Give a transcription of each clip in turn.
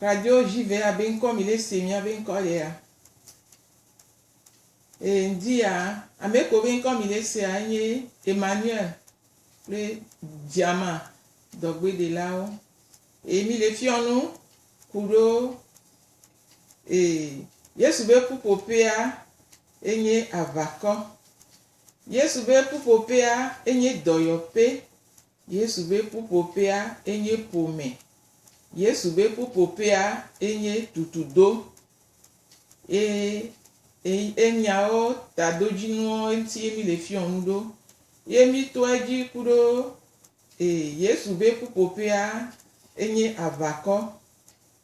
Kajo ji ve ya be ŋkɔ mi ɖe se mi ya be ŋkɔ ɖe ya. E ŋdi ya ame ko be ŋkɔ mi ɖe se ya enye Emmanuel kple Diama dɔgbe de la wo. E mi le fiɔ nu ku ɖo e Yesu be ƒuƒoƒe ya enye avakɔ. Yesu be ƒuƒoƒe ya enye dɔyɔƒe. Yesu be ƒuƒoƒea enye ƒome. Yesu be ƒuƒoƒea enye tutudo. Ye enyawo tadodzinuwo ŋuti ye mi le fiɔ nu ɖo. Ye mi tɔa edzi kuɖo Yesu be ƒuƒoƒea enye aʋakɔ.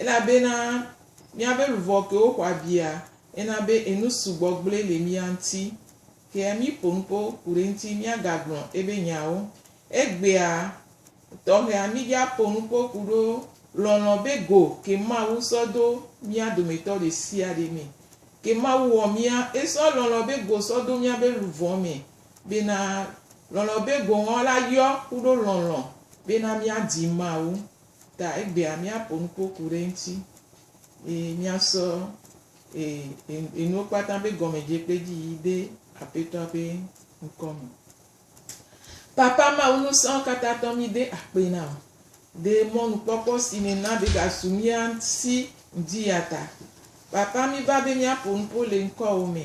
Elabena míabe luʋɔ kewo xɔ abia ena be enu sugbɔ gblɔe le mía ŋuti. Ke míƒo nu kpɔ ku ɖe eŋuti míagagblɔ ebe nyawo. Egbea tɔxɛa mídja ƒo nu kpɔ ku ɖo lɔlɔ̃ be go ke Mawu sɔ do mía dometɔ ɖe sia ɖe me. Ke Mawu wɔ mía, esɔ lɔlɔ̃ be go sɔ do míabe luʋɔ me bena lɔlɔ̃ be go ŋɔ la yɔ ku ɖo lɔlɔ̃ bena míadi Mawu. Ta egbea míaƒo nuƒo ku ɖe eŋuti, eye míasɔ enuwo kpata be gɔmedze kple edzi yiyi de Aƒetɔa ƒe ŋkɔ me. Papa Mawu, nusẽawo katã tɔ mí de akpe na wò. De mɔnukpɔkpɔ si nèna be ɖasu mía si ŋdi ya ta. Papa, míva be míaƒo nuƒo le ŋkɔwò me.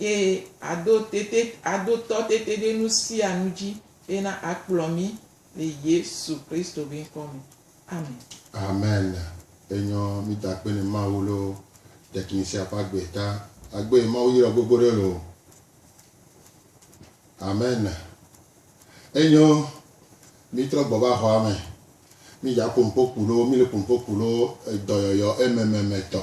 eye ado tete, ado tɔ tete ɖe nu sia nu dzi bena akplɔ mí le Yesu Kristo be ŋkɔ me. Amen. Amen. Enyɔ mí ta kpe ne Mawu lo ɖekin sia ƒe agbe ta. Agbe yi Mawu yrɔ gbogbo ɖe lo. Amen. Enyɔ mí trɔ gbɔ va xɔa me. Mí dza pompo ku lo, mí le pompo ku lo edɔyɔyɔ emememe tɔ.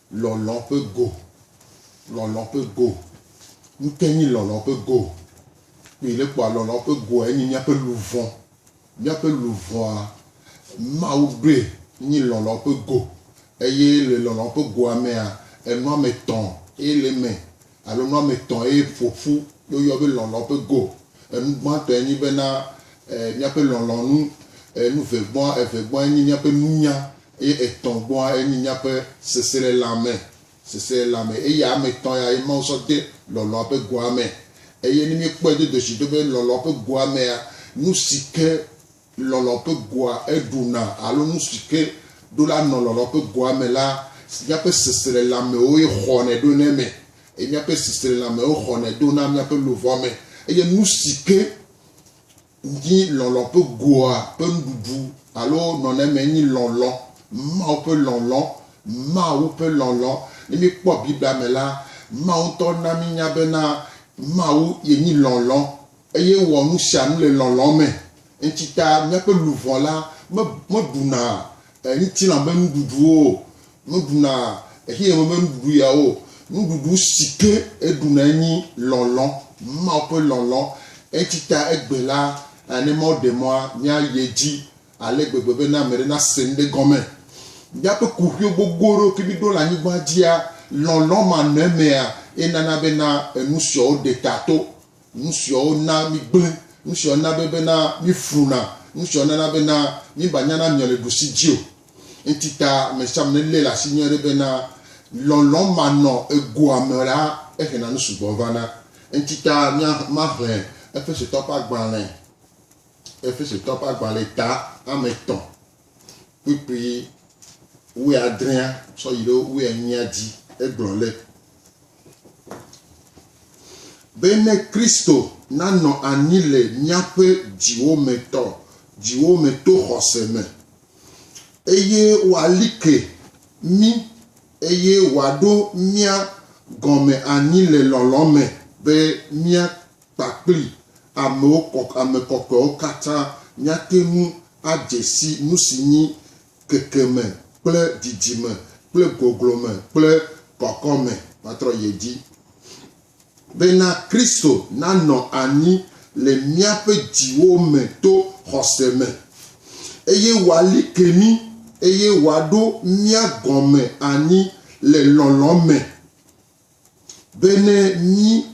Lɔlɔ̃ ƒe go. Lɔlɔ̃ ƒe go. Nukee nye lɔlɔ̃ ƒe go? Kpɔe ɖe kpɔ, lɔlɔ̃ ƒe goa enye míaƒe luʋɔ. Míaƒe luʋɔa, Mawu ɖoe nyi lɔlɔ̃ ƒe go. Eye le lɔlɔ̃ ƒe goa mea, enɔame etɔ̃ ye le eme. alo nu ame etɔ̃ ye ƒo ƒu ɖo yɔ be lɔlɔ̃ ƒe go. Enu gbãtɔe nye be na míaƒe lɔlɔ̃ nu. Enu ve gbɔa, eve gbɔa enye míaƒe nunya eye etɔ̃ gbɔa enye míaƒe seselelãme. Seselelãme. Eya ame etɔ̃ ya ye Mawu sɔ de lɔlɔ̃a ƒe goa me. Eye ne míekpɔe do doshi ɖo be lɔlɔ̃ ƒe goa mea, nu si ke Lɔlɔ̃ ƒe goa eɖuna alo nu si ke ɖo la nɔ lɔlɔ̃ ƒe goa me la si míaƒe seselelãmewoe xɔnɛ ɖo le eme, eye míaƒe seselelãmewo xɔnɛ do na míaƒe luʋɔ me. Eye nu si ke nyi lɔlɔ̃ ƒe goa ƒe nuɖuɖu alo nɔnɔme nyi lɔlɔ̃, Mawu ƒe lɔlɔ̃, Mawu ƒe lɔlɔ̃. Ne míekpɔ Biblia me la, Mawu ŋutɔ na mínya bena Mawu yenyi lɔlɔ̃. Eye wɔ nu sia nu le lɔlɔ̃ me. Eŋti ta míaƒe luʋɔ la me meɖuna ŋtilã be nuɖuɖuwo o, meɖuna xexeame be nuɖuɖu ya o. Nuɖuɖu si ke eɖuna enyi lɔlɔ̃, Mawu ƒe lɔlɔ̃. Eŋti ta egbe la, ne Mawu ɖe mɔa, míayi edzi ale gbegbe be ne ame ɖe nase nu ɖe gɔme. Míaƒe kuxiwo gbogbo ɖewo ke míɖo le anyigbaa dzia, lɔlɔ̃ ma nɔ emea ye nana be na enu siawo ɖe ta to. Nu siawo na mígblẽ, nu siawo na be bena mífluna, nu siawo nana bena míbanyana miɔ le ɖusi dzi o. Ŋti ta amesiame nelé le asi nyuiɖe bena lɔlɔ̃ manɔ egoa me la, ehena nu sugbɔ vana. Ŋti ta mía maxlẽ Efesetɔwo ƒe agbalẽ, Efesetɔwo ƒe agbalẽ ta ame etɔ̃. kpukpui wuiadrea tsɔ yi ɖe wuienyia dzi. Egblɔ le be ne Kristo nanɔ anyi le míaƒe dziwo me tɔ, dziwo me to xɔse me, eye wòali ke mí, eye wòaɖo mía gɔme anyi le lɔlɔ̃ me be mía kpakpli amewo kɔ, ame kɔkɔewo katã, míate ŋu adze si nu si nyi kekeme kple dzidzime kple goglome kple kɔkɔme. Matrɔ yi edzi. Bena Kristo nanɔ anyi le míaƒe dziwo me to xɔse me, eye wòali ke mí, eye wòaɖo mía gɔme anyi le lɔlɔ̃ me. be ne mí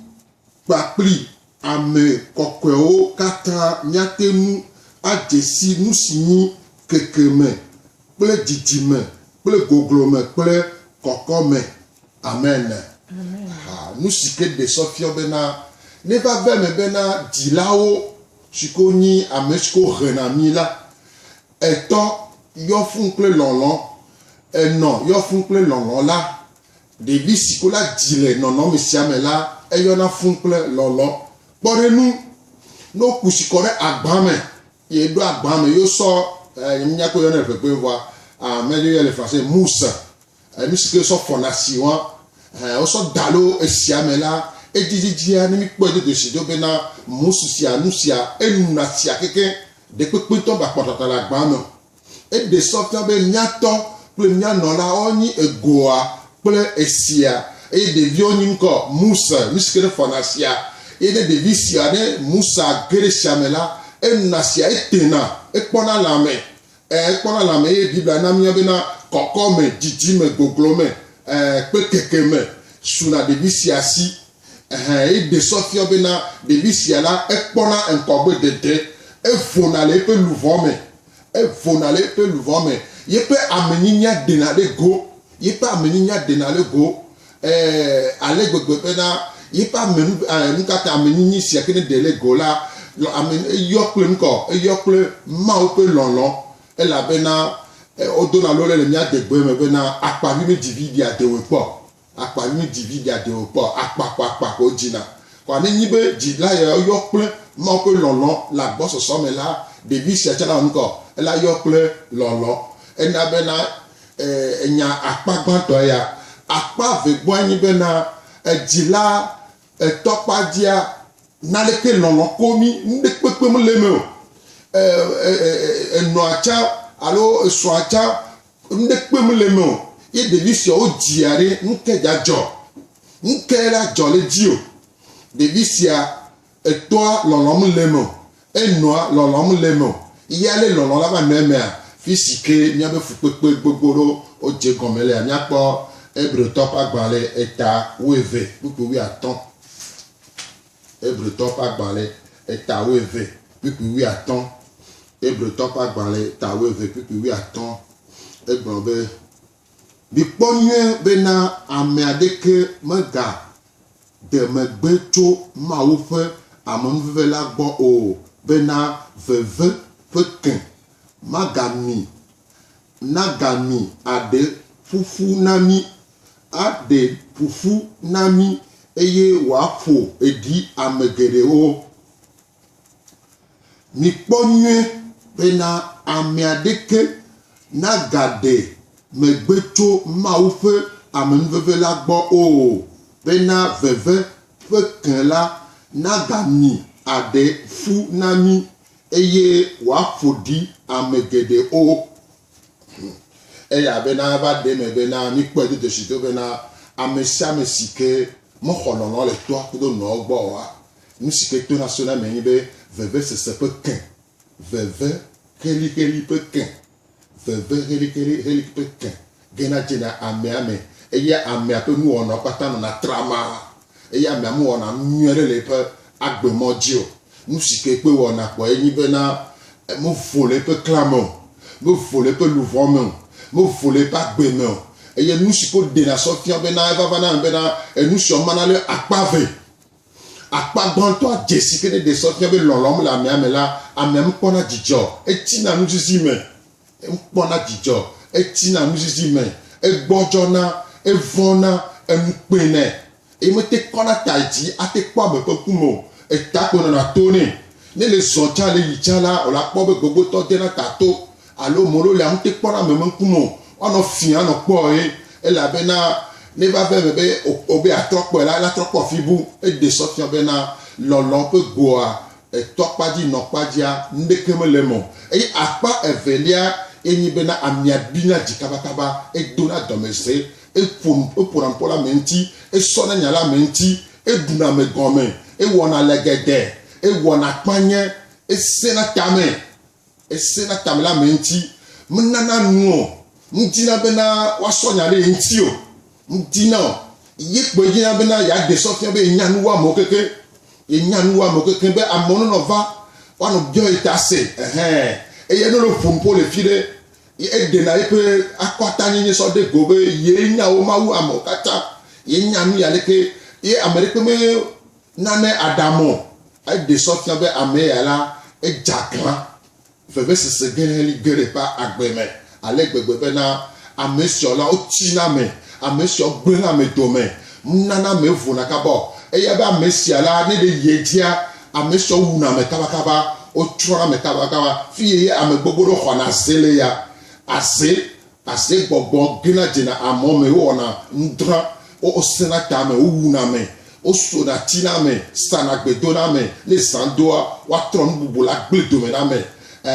kpakpli ame kɔkɔewo katã míate ŋu adze si nu si nyi kekeme kple dzidzime kple goglome kple kɔkɔme. Amen. Ha, nu si ke ɖe sɔ fiɔ bena, neva va eme bena dzilawo si ke wonyi ame si ke wohena mí la, etɔ yɔ fũu kple lɔlɔ̃, enɔ yɔ fũu kple lɔlɔ̃ la, Ɖevi si ko la dzi le nɔnɔme sia me la, eyɔna fũu kple lɔlɔ̃. Kpɔ ɖe nu, ne woku si kɔ ɖe agba me eye eɖo agba me eye wosɔ e, nyemenya ko yɔnɛ ʋeʋẽ vɔa, a, menya dzi woyɔɛ le français, mousse, e, nu si ke wosɔ fɔna si wɔa, ɛ, wosɔ da ɖo esia me la, edzidzidzia, ne mikpɔe do dzesi do bena mousse sia, nu sia, enuna tsia kekeŋ, ɖekpekpe ŋutɔ meakpɔ tata le agba me o. Eɖe sɔ fia be mía tɔ kple mía nɔlawo nyi egoa kple esia, eye ɖeviwo nyi ŋkɔ Musa, nu si ke ɖe fɔna sia, eye ne ɖevi sia ɖe Musa ge ɖe sia me la, enɔna sia, etena, ekpɔna le ame, ẽ, ekpɔna le ame, eye Biblia na míawo bena kɔkɔme, dzidzime, goglome, ẽ, kple kekeme suna ɖevi sia si. Ɛhɛ, eɖe sɔ fiɔ bena ɖevi sia la ekpɔna ŋkɔgbe dede, evona le eƒe luʋɔ me, evona le eƒe luʋɔ me. Yeƒe amenyinyia ɖena ɖe go, yeƒe amenyinyia ɖena ɖe go, ɛɛ, ale gbegbe bena yeƒe ame, nu, ɛɛ, nukata amenyinyi sia ke ne ɖe le go la, lɔ, ame, eyɔ kple nukɔ? Eyɔ kple Mawu ƒe lɔlɔ. Elabena, ɛ, wodona lole le mía adegbe me bena, akpavi me dzi viɖea, de wɔe kpɔ. Akpa nyui dzi vi ɖa de o kpɔ akpa xɔ akpa xɔ dzi na. Xɔa ne nyi be dzi la yɔ yɔ kple Mawu ƒe lɔlɔ le agbɔsɔsɔ me la, ɖevi sia tsã la wɔ nukɔ ela yɔ kple lɔlɔ. Ena be na e enya akpa gbãtɔ ya. Akpa ve gbɔe nyi be na edzi la etɔ kpa dzia na leke lɔlɔ ko mi nuɖe kpekpe me le me o. E e e e enɔa tsã alo esɔa tsã Nuɖe kpem le me o ye ɖevi siawo dzia ɖe, nuke dza dzɔ? Nuke la dzɔ le dzi o. Ɖevi sia etɔa lɔlɔm le me o, enɔa lɔlɔm le me o. Ye ale lɔlɔ la va nɔ emea, fisi ke míabe fukpekpe gbogbo ɖewo dze gɔme lea, míakpɔ Hebritɔ ƒe agbalẽ eta wuieve kpukpui wuiatɔ̃. Hebritɔwo ƒe agbalẽ eta wuieve kpukpui wuiatɔ̃. Hebritɔwo ƒe agbalẽ eta wuieve kpukpui wuiatɔ̃. Egblɔ be, Mikpɔ nyuie bena ame aɖeke megade megbe tso Mawu ƒe amenuveve la gbɔ o, bena veve ƒe ke magami nagami aɖe ƒuƒu na mí aɖe ƒuƒu na mí eye wòaƒo ɖi ame geɖewo. Mikpɔ nyuie bena ame aɖeke nagaɖe megbe tso Mawu ƒe amenuveve la gbɔ o, bena veve ƒe ke la nagami aɖe ƒu na mí eye wòaƒo ɖi ame geɖewo. Eya bena eva ɖe eme bena míkpɔe do dzesi do bena amesiame sike mexɔ lɔlɔ̃ le toa kudo nɔa gbɔ oa, nusike tona sona eme nye be vevesese ƒe ke, veve heliheli ƒe ke, veve heliheli ƒe ke gena dzena amea me eye amea ƒe nuwɔnawo kpata nɔna trama. Eya amea mewɔna nu nyui aɖe le eƒe agbemɔ dzi o. Nu si ke kpe wɔna kpɔe nye bena mevo le eƒe klã me o, mevo le eƒe luʋɔ me o, mevo le eƒe agbe me o. Eye nu si ke woɖena sɔ fia bena evava na ame bena enu sia womana lé akpa eve. Akpa gbãtɔa dze si ke ɖeɖe sɔ fia be lɔlɔ̃m le amea me la, amea mekpɔna dzidzɔ o. Etsina nuzizi me. Ekpɔna dzidzɔ, etsina nuzizi me, egbɔdzɔna, evɔ̃na, enu kpena, eye mete ŋu kɔna ta yi dzi ate kpɔ ame ƒe ŋku me o. Eta gbe nɔna to nɛ. Ne le zɔ tsã le yi tsã la, wòla kpɔ be gbogbotɔ dena ta to alo molo le ŋute kpɔna ame me ŋku me o. Woanɔ fiẽ anɔ kpɔe, elabena ne va va eme be wòbe yeatrɔ kpɔe la, ela trɔ kpɔ fibu. Eɖe sɔ fiɔ bena lɔlɔ̃ ƒe goa Etɔ̃ kpa dzi nɔ kpa dzia, nuɖeke mele eme o. Eye akpa evelia ye nyi bena amia bina dzi kabakaba, edona dɔmesese, eƒona nu ƒo le ame ŋuti, esɔna nya le ame ŋuti, eɖuna ame gɔme, ewɔna le geɖe, ewɔna kpanye, esẽna tame. Ese na tame le ame ŋuti, menana nu o. Medina bena woasɔ nya ɖe ye ŋuti o. Medina o. Ye kpoe dina bena yeaɖe sɔ fia be yenya nuwɔamewo kekeŋ. Yenya nuwɔamewo kekeŋ be amewo nenɔ va woanɔ biɔ ye ta se. Ɛhɛ. Eya ne wole ƒo nu ƒo le fi ɖe, ye eɖena yeƒe akɔtanyenye sɔ ɖe go be yee nya wo Mawu amewo katã. Yenya nu yi aleke ye ame ɖekpe me Nane Adamo, eɖe sɔ fia be ame ya la, edze aglã vevesese ge heli ge ɖe eƒe agbe me ale gbegbe bena ame siawo la, wotsina ame, ame siawo gblẽna ame dome, nunana ame vona kaba o. Eya be ame sia la, ne ɖe yi edzia, ame siawo wuna ame kabakaba, wotsrɔ̃na ame kabakaba, fiye ye amegbogbo ɖewo xɔna ze le eya, aze Asegbɔgbɔ gena dzena amɔ me, wowɔna nudrã, wosẽna ta me, wowuna ame, wosona tina ame, sana gbe dona ame, ne zã doa, woatrɔ nu bubu le agble dome na ame. E,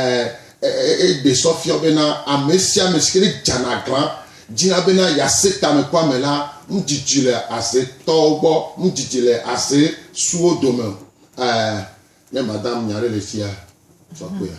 e, eɖe sɔ fiɔ bena amesiame sike ne dzana glã dzina bena yease tamekoame la, nu dzidzi le aze tɔwo gbɔ, nu dzidzi le aze suwo dome. E, ne madam nya ɖe le fia, tsɔ kpea.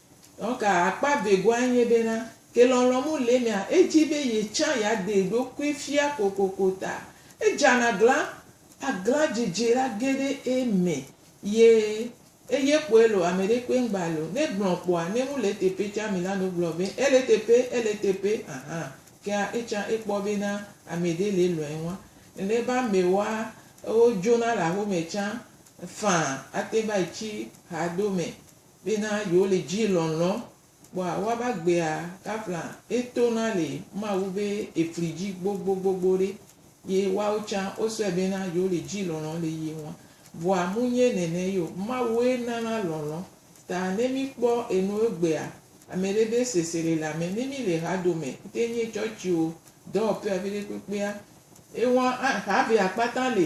Donc akpa vegoa enye be na ke lɔlɔ mu le emea edzi be ye tsã ya de eɖokui fia kokoko ta edzana glan aglan dzidzi la ge ɖe eme ye eye kpoe lo ameɖe kpoe ŋgba le o ne gblɔ kpoa ne mu le eteƒe tsã mi la no gblɔ be ele eteƒe ele eteƒe ahan kea etsã ekpɔ be na ameɖe le lɔe ŋua nene be amewoa ewo dzona le axome tsã faa ate va yi tsi ha do me. Bena yewole djii lɔnlɔn kpɔa woaba gbea gavla eto na le mawu be efli dji gbogbogbogbo ɖe ye woawo tsa wosɔɛ bena yewole djii lɔnlɔn le ye ŋua vɔa munye nɛnɛ yio mawue nana lɔnlɔn ta ne mi kpɔ enu egbea amɛɖe be sesere le amɛ ne mi le hadome ŋte nye tsɔtsio dɔwɔpea viɖe kpekpea eŋua axa be akpata le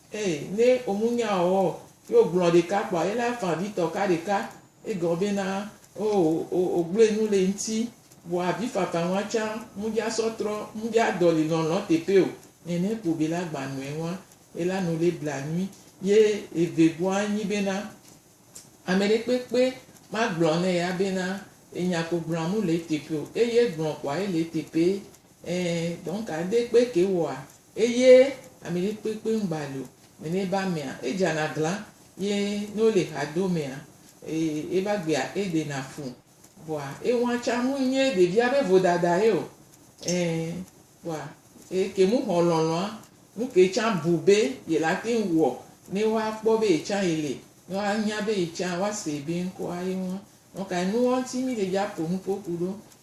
Ee, ne womunya ɔ, ye wogblɔ ɖeka kpoa ye la fa vi tɔ ka ɖeka. Egɔ be na o o o gblɔe nu le ŋti. Vɔa avi fafa ŋua tsa mu dja sɔ trɔ mu dja dɔli lɔlɔ teƒe o. Nɛnɛ kpo be la gba nɔe ŋua ye la nu le bla nyui. Ye eve bua nyi be na ameɖe kpekpe ma gblɔ ne ya be na enya ko gblɔa mu le eteƒe o. Eye gblɔ kpoa ye le eteƒe. Ee, donc ade kpe ke wɔa Eye ami ɖe kpekpe ŋgba li o, nene be amea, edzana glã, ye ne wole ha do mea, ee, eva gbea eɖena fu. Kpɔa, eŋua tsa ŋui nye ɖevia be vodada ye o. Ɛɛ, kpɔa, eye ke mu xɔ lɔlɔ̃a, nuke tsa bu be yele ate ŋu wɔ ne woa kpɔ be yetsa yele, ne woa nya be yetsa, woa see be ŋkɔa ye ŋua. Nɔ kae nuwɔŋti mi le dza ƒo nuƒo ku ɖo?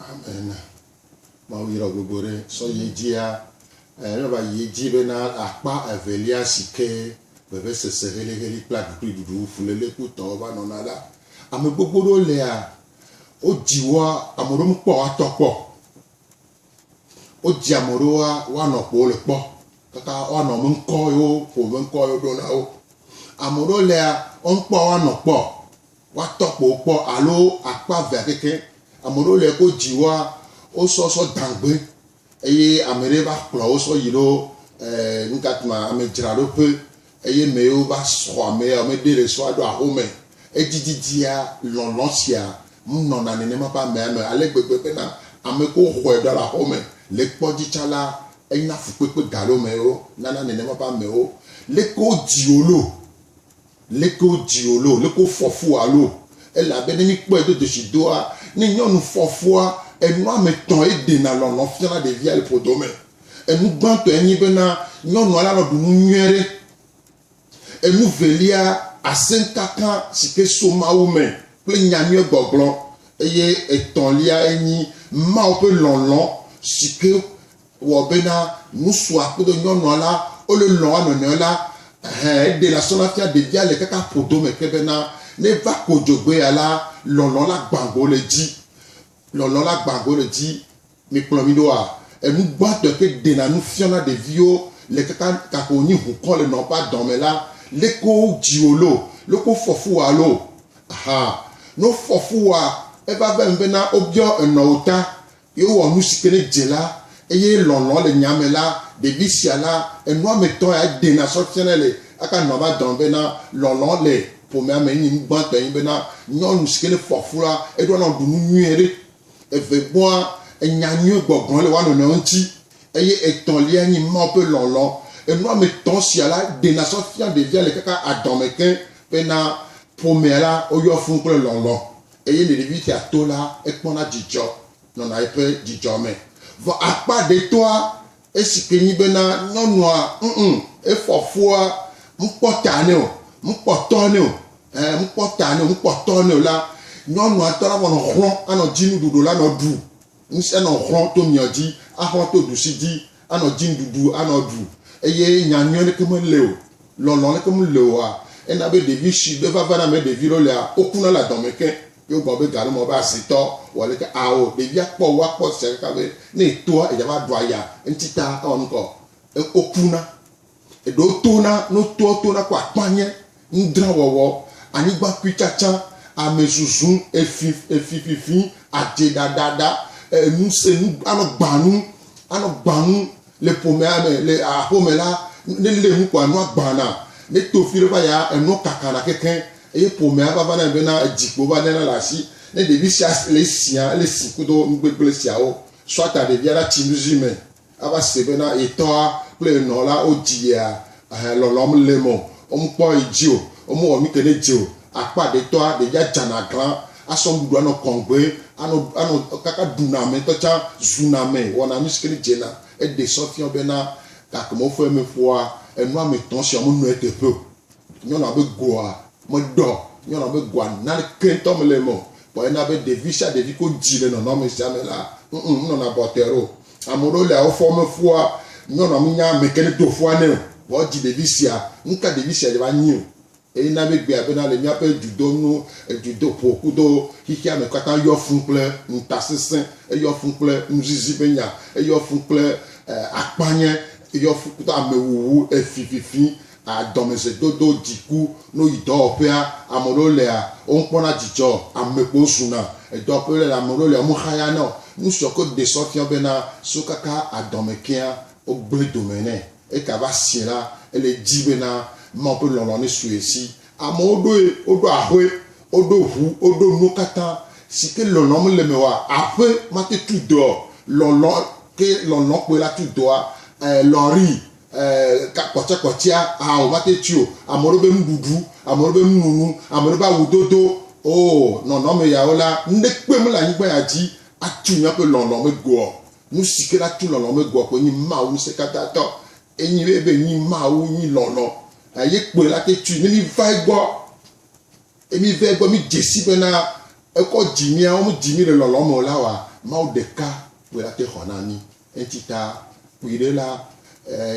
Amen. Mawu yra wò gbogbo ɖe sɔ yi dzia eh, ne va yi dzi be na akpa evelia si ke vevesese heliheli kple aɖukliɖuɖu fuléle kutɔ va nɔna la. Ame gbogbo ɖewo lea, wodzi woa, ame ɖewo mekpɔ woatɔ kpɔ. Wodzi ame ɖewo woa, woanɔ ƒo le kpɔ kaka woanɔ me ŋkɔ yewo ƒo me ŋkɔ yewo ɖo na wo. Ame ɖewo lea, womekpɔ woanɔ kpɔ. Woatɔ kpo kpɔ alo akpa vea keke. Ame ɖewo le ko dzi woa wosɔ sɔ dangbe eye ame ɖe va kplɔ wo sɔ yi ɖo nukatuma ame dzra ɖo ƒe eye me yewo va sɔ ame ya ame ɖe le sɔa ɖo aho me. Edzi didia lɔlɔ sia ŋu nɔ na nenema ƒe amea me ale gbegbe be na ame ko xɔe ɖo alo aho me le kpɔ dzi tsa la enya fukpekpe ga ɖo me yewo nana nenema ƒe amewo le ko dzi wo lo. Leke wodzi wò alo leke wofɔ fu wò alo? Elabe ne míkpɔe do dzesi doa, ne nyɔnu fɔ fua, enu ame etɔ̃ eɖena lɔlɔ̃ fiana ɖevia le ƒodo me. Enu gbãtɔe nye bena nyɔnua lanɔ ɖu nu nyui aɖe. Enu velia, asẽkaka si ke so Mawu me kple nya nyuie gbɔgblɔ. Eye etɔ̃liae nye Mawu ƒe lɔlɔ̃ si ke Wɔ bena ŋusua kudo nyɔnua la wo le lɔn wa nɔnɔe la, ehɛ eɖe la sɔna fia ɖevia le kaka ƒodo me ke bena ne va ko dzogbe ya la lɔlɔ la gban go le dzi. Lɔlɔ la gban go le dzi. Mi kplɔ mi ɖoa? Enu gbãtɔe ke ɖena nu fiɔna ɖeviwo le kaka gake wo nyi hukɔ le nɔn ƒa dɔn me la, leke wo dziwo lo, leke wo fɔ fu wa lo. Aha. Ne wo fɔ fu wa, eva vem bena wo biɔ enɔn wo ta. Yewɔ nu si ke ne dze la, eye lɔlɔ̃ le nya me la, ɖevi sia la, enua me tɔ ya dena sɔ fiana le aka nɔa va dɔn be na lɔlɔ̃ le ƒomea me enyi nu gbãtɔ enyi be na nyɔnu si ke ne ƒoa ƒu la, eɖoa na woɖu nu nyuie ɖe. Eve gbɔa, enya nyuie gbɔgblɔ le woa nɔnɔewo ŋuti, eye etɔ̃lia nyi Mawu ƒe lɔlɔ̃. Enua me tɔ sia la dena sɔ fia ɖevia le kaka adɔme ke be na ƒomea la woyɔ fũu kple lɔlɔ̃. Eye Ninivitia to la, ekpɔna dzidzɔ, nɔna eƒe dzidzɔ me. Vɔ akpa ɖe toa, esi ke nyi bena nyɔnua, ŋ-ŋ, efɔ fua, mkpɔ ta nɛ o, mkpɔ tɔ nɛ o, ẽ, mkpɔ ta nɛ o, mkpɔ tɔ nɛ o la, nyɔnua ŋutɔ la nɔ xlɔ̃, anɔ dzinu ɖuɖu la nɔ ɖu. Ŋusẽ nɔ xɔ to miɔ dzi, axɔ to ɖusi dzi, anɔ dzinuɖuɖu anɔ ɖu. Eye nya nyuiɔ ɖeke mele o, lɔlɔ ɖeke mele oa, ena be ɖevi shi be vava na mɛ ɖevi ɖewo lea, wo kuna le adɔme ke. Ye wo gblɔ be gaɖe mɔ be azitɔ wɔ leke ao, ɖevia kpɔ wo akpɔ esia kaka be ne etoa eya va ɖua ya eŋtsi ta ewɔ nukɔ, e, wo kuna. Eɖo to na nutoɔ to na ku akpa nye, ŋdrawɔwɔ, anyigbakpuitsatsa, amezuzu, efi, efififi, adze ɖaɖaɖa, enu se nu, anɔ gbanu, anɔ gbanu le ƒomea me, le aƒe me la, ne lé nu kɔa, nua gbana, ne to fi ɖe va yia, enua kakana kekeŋ, eye ƒomea va vana bena edzi kpo va léna le asi. Ne ɖevi sia le esia, ele si kudo nugbegblẽ siawo, sɔa ta ɖevia ɖa tsi nuzi me. Ava se be na yetɔa kple yenɔ la wo dzi yea ehe lɔlɔm le mɔ omu kpɔ yi dzi o, omu wɔ nuke ne dzi o. Akpa ɖe tɔa ɖe ya dza na glan, asɔ nuɖuɖu anɔ kɔŋgbe, anɔ anɔ kaka ɖu na ame tɔ tsa zu na ame wɔna nu sike ne dze na eɖe sɔ fiɔ be na gake mɔ ƒe me ƒoa enu ame tɔ sia wo me nɔe teƒe o. Nyɔnua be goa meɖɔ. Nyɔnua be goa naneke ŋutɔ mele eme o. Vɔ ena be ɖevi sia ɖevi ko dzi le nɔnɔme sia me la, ŋŋ, enɔna bɔtɛr o. Ame aɖewo lia wofɔ me fua, nyɔnua menya ameke nedo fua nɛ o, vɔ edzi ɖevi sia. Nuka ɖevi sia dze va nyi o? Eye na míegbea bena le míaƒe dzudonu, dzudoƒo kudo xexea me katã eyɔ fũ kple ŋutasesẽ, eyɔ fũ kple nuzizi ƒe nya, eyɔ fũ kple akpanye, eyɔ fũ kudo amewuwu, efififi, A Dɔmedzedodo Dziku no yi dɔwɔƒea. Ame ɖewo lia, womekpɔna dzidzɔ o. Ame kpowo zuna edɔwɔƒe le la. Ame ɖewo lia, womexayana o. Nu siwo ke wode sɔ fia be na siwo kaka adɔme kea, wogblẽ dome nɛ. Eka va sie la, ele edzi be na Mawu ƒe lɔlɔ̃ ne su ye si. Amewo ɖoe, woɖo aƒe, woɖo ʋu, woɖo nuwo katã si ke lɔlɔ̃ mele eme oa. Aƒe mate tu dɔe o. Lɔlɔ̃ ke lɔlɔ̃ kpɔe la tu dɔa. Ee, lɔri kpɔtsɛkpɔtsɛa hã o va te tsi o ame ɖewo be nuɖuɖu ame ɖewo be nununu ame ɖewo be awu dodo o nɔnɔme yawo la nuɖekpe mele anyigba ya dzi atu míaƒe lɔlɔ me goɔ nusi ke la tu lɔlɔ me goɔ ko nyi mawu ŋusẽkatãtɔ enyi be be nyi mawu nyi lɔlɔ eye kpoe la te tui ne mi va egbɔ emi va egbɔ mi dzesi be na ekɔ dzi miawo mi dzi mi le lɔlɔ me o la wa mawu ɖeka kpoe la te xɔ na mi Enti ta kpui ɖe la,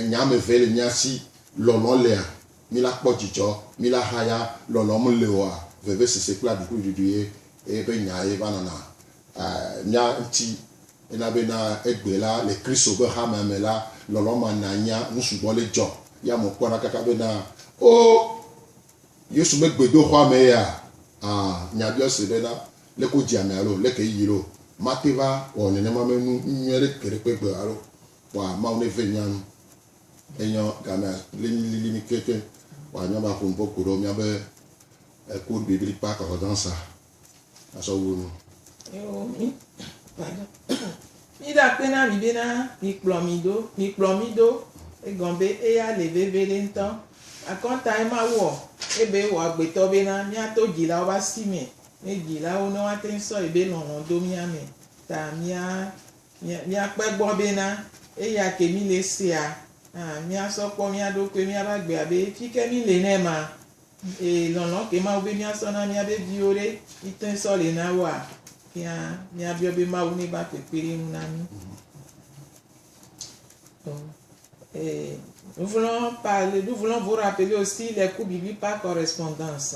nya ame eve le mía si, Lɔlɔ̃ lea? Mí la kpɔ dzidzɔ? Mí la ha ya? Lɔlɔ̃ mele oa? Vevesese kple aɖukliɖuɖu ye eƒe nya ye va nana mía ŋuti. Ena be na egbe la, le Kristo ƒe hamea me la, lɔlɔ̃ ma na nya nusugbɔ le dzɔ. Ye amewo kpɔna kaka be na, Oo, Yesu megbe do xɔa me ya? Aa, nya biɔ se be na lé ko dzi ame alo lé ke yiyi lo, mate va wɔ nenema me nu nyuie ɖe ke ɖe kpe gbe alo kpɔa Mawu ne ve nya nu. Enyɔ gamea lé nyi lili mi ke ke wa nyɔ ba ƒonu po ko ɖo mia be eko ɖe bibli kpa kɔ zan sa a sɔ wu nu. Eo mi, pardon, mi ɖa kpe na mi be na mi kplɔ mi ɖo, mi kplɔ mi ɖo egɔn be eya le veve ɖe ŋtɔ. Akɔnta ye Mawu ɔ, ebe wɔ agbetɔ be na mia to djilawo ba si me mí dzilawo ne woate ŋu sɔ yi be lɔlɔ̃ do mía me ta mía míakpe egbɔ bena eya ke mí le sea hã míasɔ kpɔ mía ɖokui míabe agbea be fi ke mí le ne ma e lɔlɔ̃ ke Mawu be míasɔ na míabe viwo ɖe mí te sɔ le na woa fia mía biɔ be Mawu ne va kpekpeɖeŋu na mí. Eh, nous voulons parler, nous voulons vous rappeler aussi les cours bibliques par correspondance.